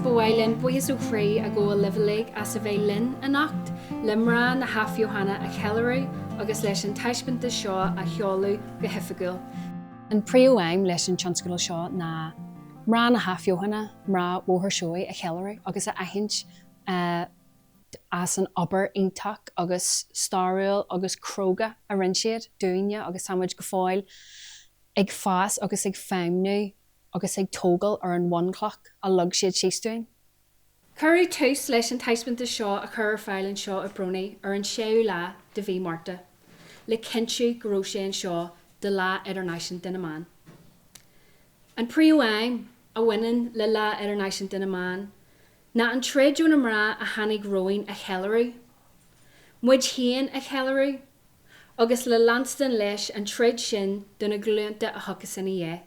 Ba mhaith linn buíochas ó chroí a ghabháil libh uilig as a bheith linn anocht le mná na hAthbheochana a cheiliúradh agus leis an taispeántas seo a sheoladh go hoifigiúil. An phríomhaidhm leis an tionscadal seo ná mná na hAthbheochana, mná Bhóthar Seoighe a cheiliúradh agus a aithint as an obair iontach agus stairiúil agus cróga a rinne siad dúinne agus tá muid go fóill ag fás agus ag feidhmniú agus ag tógail ar an bhunchloch a leag siad síos dúinn. Cuireadh tús leis an taispeantas seo a chur ar fáil anseo i bPRONI ar an 6ú lá de mhí Márta le cinntiú go raibh sé anseo do Lá Idirnáisiúnta na mBan. An phríomhaidhm a bhaineann le Lá Idirnáisiúnta na mBan ná an troid do na mná a tháinig romhainn a cheiliúradh, muid féin a cheiliúradh agus le leanstan leis an troid sin do na glúnta a thiocfas inár ndiaidh.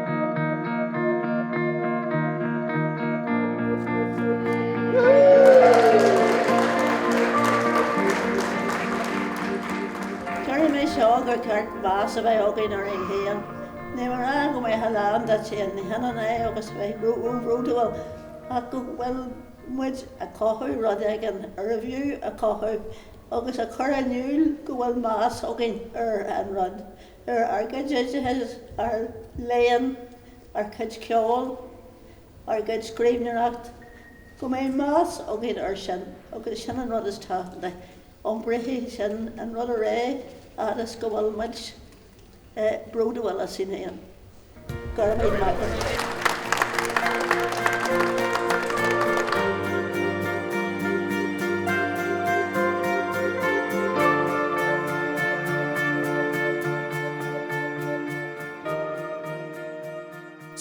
Déarfaidh mé seo gur ceart meas a bheith againn orainn féin. Ní mar go mbeadh muid lán dínn féin, ní hionann é agus a bheith bródúil ach go bhfuil muid a chothú rud éigin arbh fhiú é a chothú agus a chur in iúl go bhfuil meas againn ar an rud. ar ár gcuid oideachais, ár léann, ár gcuid ceoil, ár gcuid scríbhneoireacht, go mbeidh meas againn ar sin agus sin an rud is tábhachtaí, iompróidh sin an rud ar aghaidh fhad is go bhfuil muid bródúil asainn féin. Go raibh maith agat.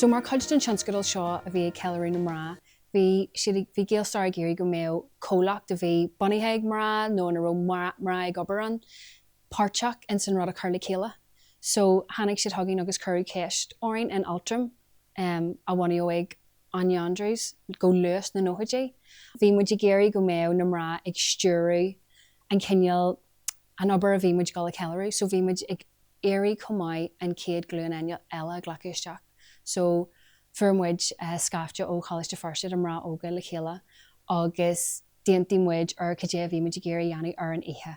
So mar chuid den tionscadal seo a bhí ag ceiliúradh na mná, bhí siad ag, bhí GaelStair ag iarraidh go mbeadh comhlacht a bhí bunaithe ag mná nó ina raibh mná ag obair ann, páirteach ins an rud a chur le chéile so tháinig siad chugainn agus cuireadh ceist orainn in Altram em a bunaíodh ag Áine Andrews go luath sna nóchaidí bhí muid ag iarraidh go mbeadh na mná ag stiúradh an cineál an obair a bhí muid ag dul a cheiliúradh so bhí muid ag iarraidh chomh maith an chéad ghlúin eile eile a ghlacadh isteach so fuair muid eh scaifte ó Choláiste Feirste de mná óga le chéile agus d'aontaigh muid ar cad é a bhí muid ag iarraidh a dhéanamh ar an oíche.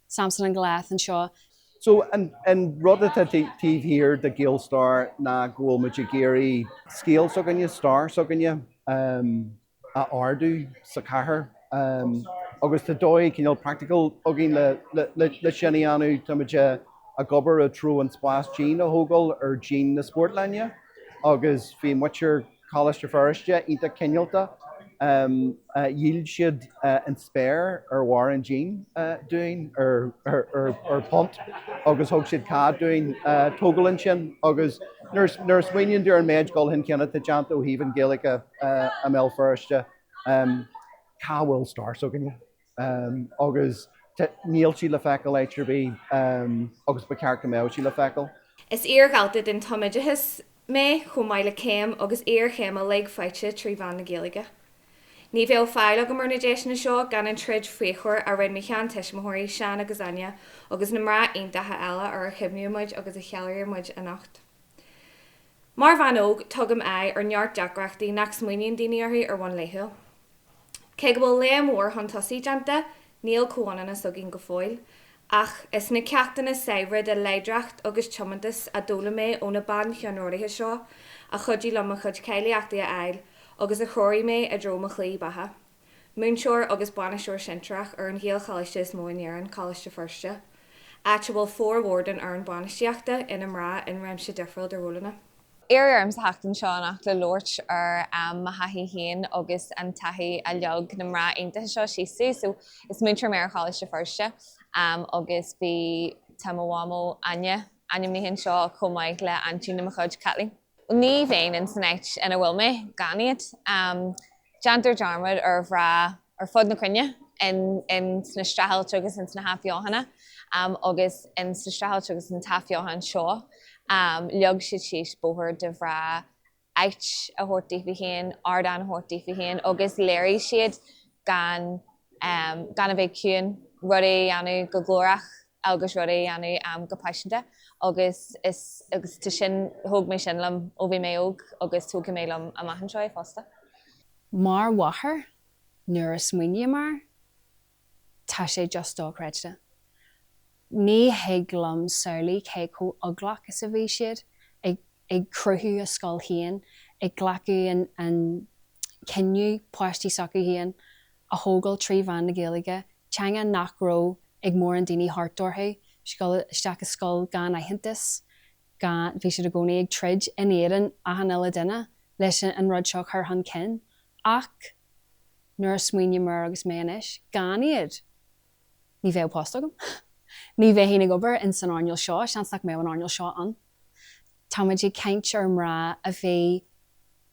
Samson an glas anseo. So, an rud atá taobh thiar de GaelStair ná go bhfuil muid ag iarraidh scéal s'againne, stair s'againne a ardú sa chathair agus tá dóigh chineál practical againn le sin a dhéanamh. Tá muid ag obair i dtreo an spás dín a thógáil ar dhíon na Spórtlainne agus bhí muintir Coláiste Feirste iontach cineálta. Dhíol siad an spéir ar bharr an dín dúinn ar phunt agus thug siad cead dúinn tógáil ansin agus nuair a smaoiníonn tú ar an méid dul chun cinn atá déanta ó thaobh an Ghaeilge de i mBéal Feirste, cá bhfuil stair s'againne? agus níl sí le feiceáil áit ar bith agus ba cheart go mbeadh sí le feiceáil. Is iardhalta den tumoideachas mé chomh maith le céim agus iarchéim uilig faighte trí mheán na Gaeilge. Ní bheadh fáil agam ar na deiseanna seo gan an troid fíochmhar a rinne mo sheantuismitheoirí, Seán agus Áine, agus na mná iontacha eile ar a chuimhníonn muid agus a cheiliúrann muid anocht. Mar bhean óg tugaim aghaidh ar neart deacrachtaí nach smaoiníonn daoine orthu ar bhonn laethúil. Cé go bhfuil léim mhór chun tosaigh déanta, níl comhionannas againn go fóill. Ach is na ceachtanna saibhre de láidreacht agus tiomantas a d'fhoghlaim mé ó na bancheannródaithe seo a chuidigh liom mo chuid cáilíochtaí a fháil agus a threoraigh mé i dtreo mo shlí bheatha. Múinteoir agus bainisteoir sinsearach ar an Ghaelcholáiste is mó in Éirinn, Coláiste Feirste, áit a bhfuil formhór den fhoireann bainistíochta ina mná in réimse difriúil de rólanna. Iarradh orm teacht anseo anocht le labhairt ar mo thaithí féin agus an taithí a leag na mná iontacha seo síos domh. So, is múinteoir mé ar Choláiste Feirste agus bhí, tá mo mhamó, Áine, ainmnithe anseo chomh maith le aintín de mo chuid, Caitlín. Ní bheinn in san áit ina bhfuil mé gan iad. Déantar dearmad ar mhná ar fud na cruinne, in sna streachailtí agus in sna hathbheochana, agus in sa streachailt agus an t-athbheochain seo leag siad síos bóthar do mhná, áit a thabhairt daofa féin, ardán a thabhairt daofa féin agus léirigh siad gan a bheith ciúin, rudaí a dhéanamh go glórach. agus rudaí a dhéanamh go paiseanta agus tá sin, thóg mé sin liom ó bhí mé óg agus tógfaidh mé liom amach anseo é fosta. Mar mháthair nuair a smaoiním air tá sé just dochreidte. Ní thig liom samhlú cé chomh eaglach is a bhí siad ag cruthú a scoil féin, ag glacadh an cinneadh páistí s'acu féin a thógáil trí mheán na Gaeilge teanga nach raibh ag mórán daoine thart orthu, isteach i scoil gan aitheantas, gan, bhí siad i gcónaí ag troid in éadan achan uile duine leis an rud seo a chur chun cinn. Ach nuair a smaoiním air agus mé anois gan iad, ní bheadh post agam. Ní bheithfinn ag obair in san earnáil seo, seans nach mbeadh an earnáil seo ann. Táimid ag caint ar mná a bhí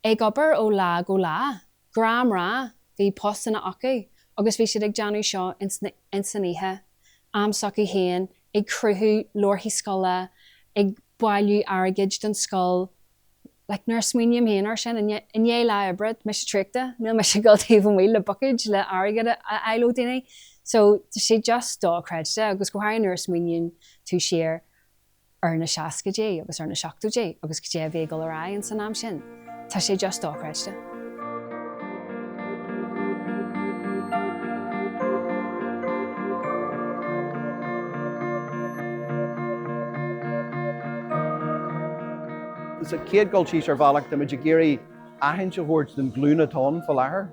ag obair ó lá go lá, gnáthmhná, bhí postanna acu agus bhí siad ag déanamh seo ins an oíche, am s'acu féin, ag cruthú leabharthaí scoile, ag bailiú airgid don scoil, like nuair a smaoiním féin ar sin, i ndiaidh lá oibre, mise traochta, níl mise ag dul taobh amuigh le buicéid le airgead a fháil ó dhaoine, so tá sé just do-chreidte agus go háirithe nuair a smaoiníonn tú siar ar na seascaidí agus ar na seachtóidí agus cad é a bhí ag dul ar aghaidh ins an am sin. Tá sé just dochreidte. Sa chéad dul síos ar bhealach táimid ag iarraidh aitheantas a thabhairt don ghlúin atá ann faoi láthair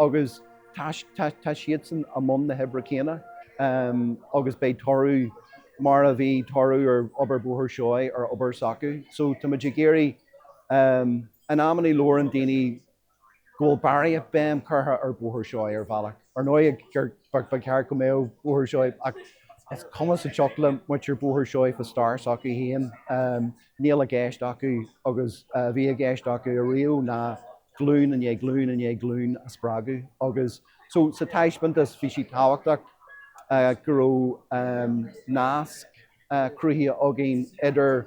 agus tá siadsan i mbun na hoibre céanna agus beidh toradh mar a bhí toradh ar obair Bhóthar Seoighe ar obair s'acu so tá muid ag iarraidh, in amannaí labhaireann daoine go bhfuil barraíocht béim curtha ar Bhóthar Seoighe ar bhealach ar ndóigh ba cheart go mbeadh Bóthar Seoighe, ach is cuma sa tsioc le muintir Bhóthar Seoighe fá stair s'acu féin níl i gceist acu agus a bhí i gceist acu ariamh ná glún i ndiaidh glún i ndiaidh glún a spreagadh agus So sa taispeantas bhí sé tábhachtach go raibh nasc cruthaithe againn idir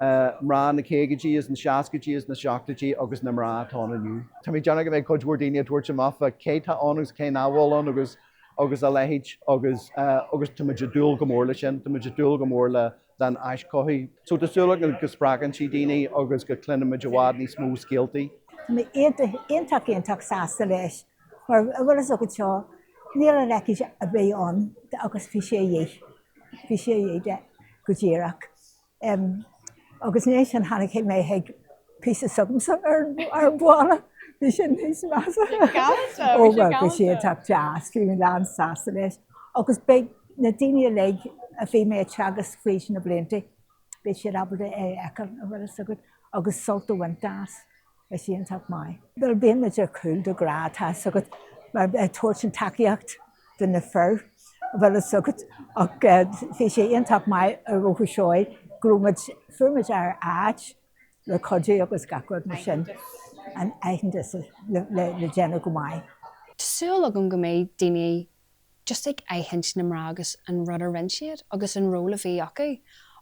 mná na caogaidí is na seascaidí is na seachtóidí agus na mná atá ann inniu. Tá mé ag déanamh go mbeidh cuid mhór daoine ag tabhairt amach fá cé tá ann agus cé nach bhfuil ann agus a leithéid agus tá muid ag dúil go mór leis sin. Tá muid ag dúil go mór le an aischothú. So tá súil agam go spreagann sé daoine agus go cluinimid i bhfad níos mó scéaltaí. Tá mé iontach iontach iontach sásta leis mar a bhfuil fhios agat seo níl a leithéid a bheith ann agus bhí sé dhith bhí sé dhith de go díreach agus ansin nuair a chonaic mé an píosa s'agamsa ar an bhalla bhí sé níos measa. Bhí sé galanta. Ó bhí sé iontach deas bhí mé lán sásta leis. Agus beidh na daoine uilig a bhí mé a' teagasc fríd na blianta, beidh siad ábalta é a fheiceáil, a bhfuil 'fhios agat, agus sult a bhaint as. Bhí sé iontach maith. Bhuel, bíonn muid ar cúl de ghnáth, tá 'fhios agat, mar ag tabhairt an tacaíocht do na fir, a bhfuil 'fhios agat, ach bhí sé iontach maith ar Bhóthar Seoighe go raibh muid, fuair muid ár áit, le cuidiú agus gach rud mar sin an aitheantas le déanamh go maith. Tá súil agam go mbeidh daoine just ag aithint na mná agus an rud a rinne siad agus an ról a bhí acu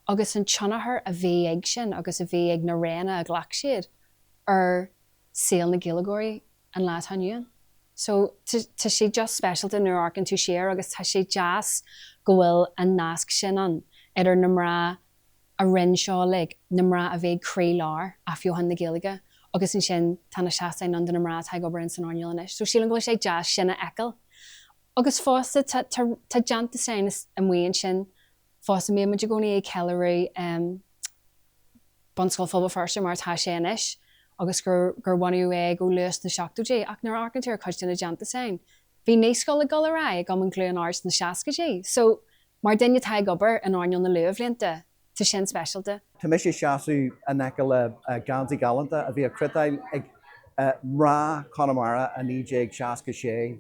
agus an tionchar a bhí ag sin agus a bhí ag na roghanna a ghlac siad ar saol na Gaeilgeoirí an lá atá inniu ann. So tá sé just speisialta nuair a amharcann tú siar agus tá sé deas go bhfuil an nasc sin ann idir na mná a rinne seo uilig na mná a bhí ag croílár athbheochan na Gaeilge agus ansin tá na seastáin ann do na mná atá ag obair ins an earnáil anois so sílim go bhfuil sé deas sin a fheiceáil agus fosta tá tá déantúsáin amuigh ansin fosta bíonn muid i gcónaí ag ceiliúradh Bunscoil Phobal Feirste mar atá sé anois agus gur gur bhunaíodh é go luath sna seachtóidí ach nuair a amharcann tú ar cuid de na déantúsáin bhí naíscoil ag dul ar aghaidh ag Cumann Chluain Árd sna seascaidí so Mar dhuine atá ag obair in earnáil na luathbhlianta, tá sin speisialta. Tá mise ag seasamh in aice le geansaí galánta a bhí á chniotáil ag mná Chonamara i 1966.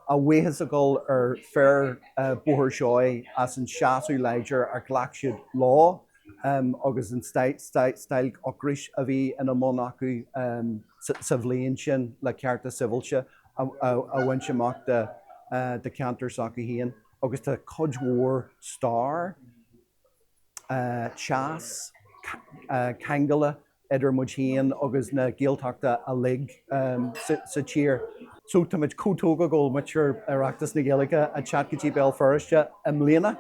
A bhuíochas a ghabháil ar fir Bhóthar Seoighe as an seasamh láidir ar ghlac siad leo agus an stailc ocrais a bhí ina mbun acu sa bhliain sin le cearta sibhialta. a bhaint amach do ceantar s'acu féin agus tá cuid mhór stair, teas, ceangail idir muid féin agus na Gaeltachta uilig sa tír. So tá muid chomh tógtha go bhfuil muid ar Oireachtas na Gaeilge ag teacht go dtí Béal Feirste i mbliana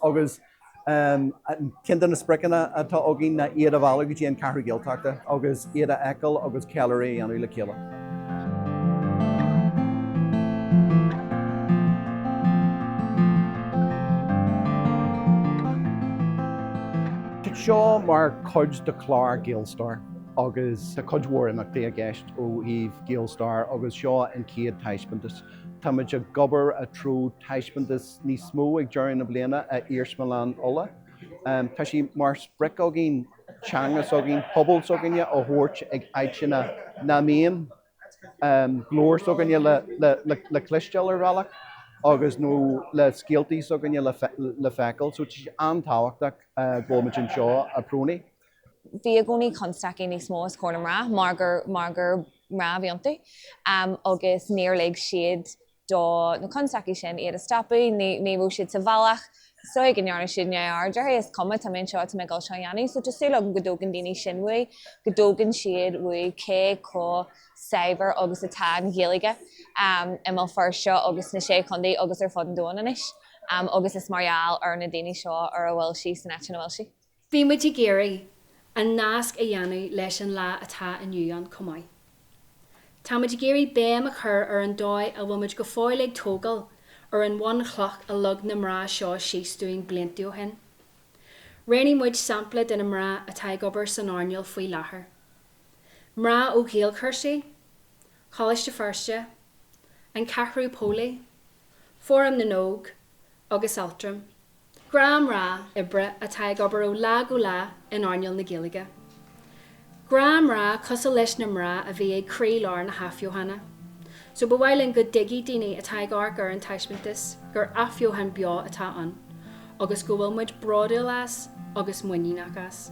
agus Ceann de na spriocanna atá againn ná iad a mhealladh go dtí an Ceathrú Gaeltachta agus iad a fheiceáil agus ceiliúradh a dhéanamh le chéile. Seo mar chuid de chlár GaelStair agus tá cuid mhór imeachtaí i gceist ó thaobh GaelStair agus seo an chéad taispeántas. Tá muid ag obair i dtreo taispeántas níos mó ag deireadh na bliana ag Iarsmalann Uladh. Tá sé mar sprioc againn teanga s'againn, pobal s'againne a thabhairt ag áiteanna nach mbíonn glór s'againne le cloisteáil ar bhealach agus nó le scéaltaí s'againne le feiceáil. So tá sé an-tábhachtach go bhfuil muid anseo i PRONI. Bhí i gcónaí constaicí níos mó os comhair na mná mar gur mná a bhí iontu agus níor lig siad do na constaicí sin, iad a stopadh, ní, ní raibh siad sa bhealach, so go ndearna siad neamhaird orthu, is cuma, tá mé anseo, tá mé ag dul seo a dhéanamh. So tá súil agam go dtógann daoine sin uaidh, go dtógann siad uaidh cé chomh saibhir agus atá an Ghaeilge i mBéal Feirste agus sna Sé Chontae agus ar fud an domhain anois agus is mar gheall ar na daoine seo ar a bhfuil sí san áit ina bhfuil sí. Bhí muid ag iarraidh an nasc a dhéanamh leis an lá atá inniu ann chomh maith. Tá muid ag iarraidh béim a chur ar an dóigh a bhfuil muid go fóill ag tógáil ar an bhunchloch a leag na mná seo síos dúinn blianta ó shin. Roghnaigh muid sampla de na mná atá ag obair san earnáil faoi láthair. Mná ó Ghaelchúrsaí, Coláiste Feirste, An Ceathrú Póilí, Fóram na nÓg agus Altram. Gnáthmhná oibre atá ag obair ó lá go lá in earnáil na Gaeilge. Gnáthmhná cosúil leis na mná a bhí ag croílár na hathbheochana. So ba mhaith linn go dtuigfeadh daoine atá ag amharc ar an taispeántas gur athbheochan beo atá ann agus go bhfuil muid bródúil as agus muiníneach as.